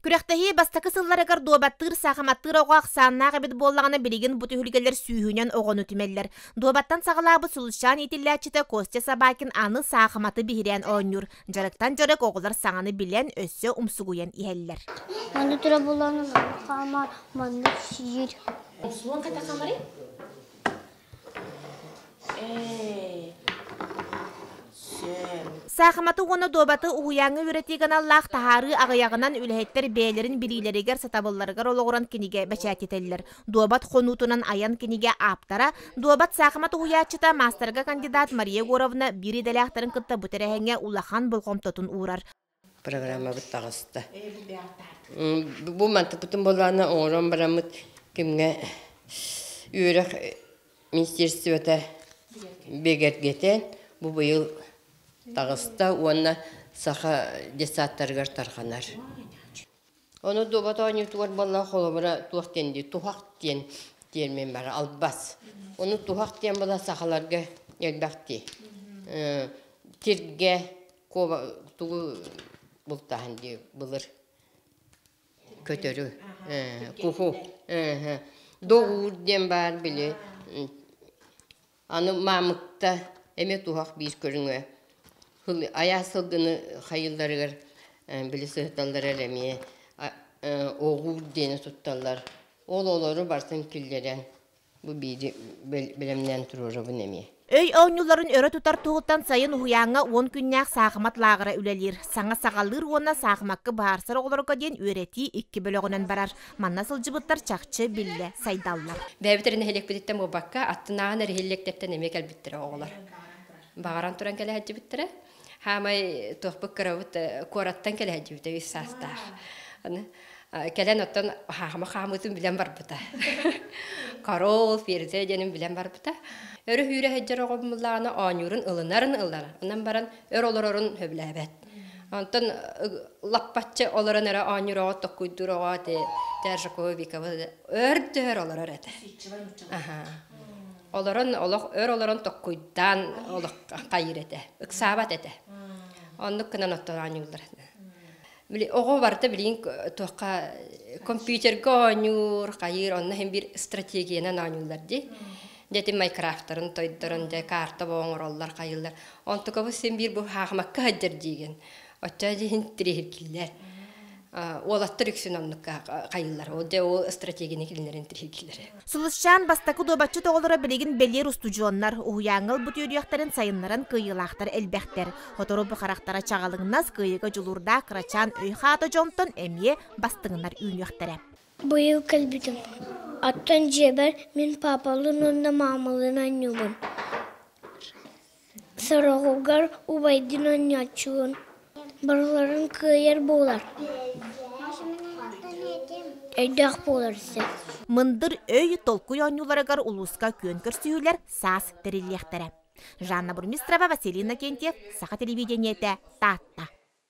Күрэхтэһии бастакы сылларыгар дуобаттыыр саахыматтыыр оҕо ахсааннаах эбит буоллаҕына билигин бу түһүлгэлэр сүүһүнэн оҕону түмэллэр. Дуобаттан саҕалаабыт Сулусчаан итиллээччитэ Костя Собакин аны саахыматы биһирээн оонньуур. Дьарыктан дьарык оҕолор саҥаны билэн, өссө умсугуйан иһэллэр. Аны тура буланым, хаама маннык сиир. Суон ката хамары? Саахыматы уонна дуобаты уһуйааҥҥа үөрэтии каналлаах таһаарыы аҕыйаҕынан үлэһиттэр бэйэлэрин билиилэригэр сатабылларыгар олоҕуран кинигэ бэчээттэтэллэр. Дуобат хонуутунан айан кинигэ ааптара, дуобат саахымат уһуйааччыта маастарга кандидат Мария Егоровна биир идэлээхтэрин кытта бу тэрээһиҥҥэ улахан болҕомтотун уурар. программабыт таҕыста. Бу мантыпытын болаана оҥорон бараммыт кимҥэ үөрэх министерствота бигэргэтэн бу быйыл таҕыста уонна саха детсадтарыгар тарҕанар. Ону дуобат оонньуутугар буолла холобура туох диэн дии туһах диэн тиэрмин бара албас. Ону туһах диэн була сахаларга элбэхтии. Тиргэ куоба тугу бултаһан дии былыр көтөрү куху доҕуур диэн баар били Аны маамыкта эмиэ туһах биир көрүҥэ сыл айаас сылгыны хайыыларыгар били сыһыталлара эрэ эмиэ оҕуур диэни тутталлар. Ол олору барытын киллэрэн бу биири бэлэмнээн туруорабын эмиэ. Өй оонньууларын өрө тутар туһуттан сайын уһуйааҥҥа уон күннээх саахымат лааҕыра үлэлиир. Саҥа саҕалыыр уонна саахымакка быһаарсар оҕолорго диэн үөрэтии икки бөлөҕүнэн барар. Манна сылдьыбыттар чахчы биллэ сайдаллар. Бэйэбит эрэ нэһилиэкпититтэн буолбакка, аттынааҕы нэһилиэктэртэн эмиэ кэлбиттэрэ оҕолор. Баҕаран туран кэлэһэддьибиттэрэ. Хаамай туохпут кырабыт куораттан кэлэһэддьибитэ үс саастаах. Кэлэн оттон хаама хаамыытын билэн барбыта. Королл Ферзя диэнин билэн барбыта. Өрө сүүрэ сылдьар оҕобумуллаҕына оонньуурун ылынарын ылларан, онон баран өр олорорун сөбүлээбэт. Онтон лаппаччы олорон эрэ оонньуроҕо токкуйдуроҕо ати Тержакова Викова өр төөр олорор этэ. Олорон олох өр олорон токкуйдаан олох хайыр этэ. Ыксаабат этэ. Оннук гынан оттон оонньууллар этэ. Оҕо барыта билин туохха компьютерга оонньуур, хайыр, онно һин бир стратегиянан оонньууллар ди. Дьэ ити майкрафтарын тойдорон дьэ карта боо оҥороллор хайыллар. Онтукабыс син биир бу хаахымакка хаддьар диигин. Оччо дьиһин тириһиркиллэр. Уолаттар үксүн оннук хайыллар. Ол дьэ ол стратегини кинилэрин тириһиркиллэр. Сылысчаан бастакы дуобатчыт оҕолоро билигин бэлиэр устудьуоннар уһуйааҥҥыл бу түөрүйэхтэрин сайыннаран кыайыылаахтар элбэхтэр. Сотору бу харахтара чаҕылыҥнас кыайыыга дьулуурдаах кырачаан өй-хаата дьонтон эмиэ бастыҥнар үүнүөхтэрэ. Быйыл кэлбитим, оттон дьиэбэр мин паапалыын уонна маамалыын оонньуубун. Сороҕугар убайдыын оонньооччубун, барыларын кыайар буолар. Өйдөөх буолар син. Мындыр өй толкуй оонньууларыгар улууска күөн көрсүһүүлэр саас тэриллиэхтэрэ. Жанна Бурмистрова, Василина Кентьев, Саха телевидениетэ, Таатта.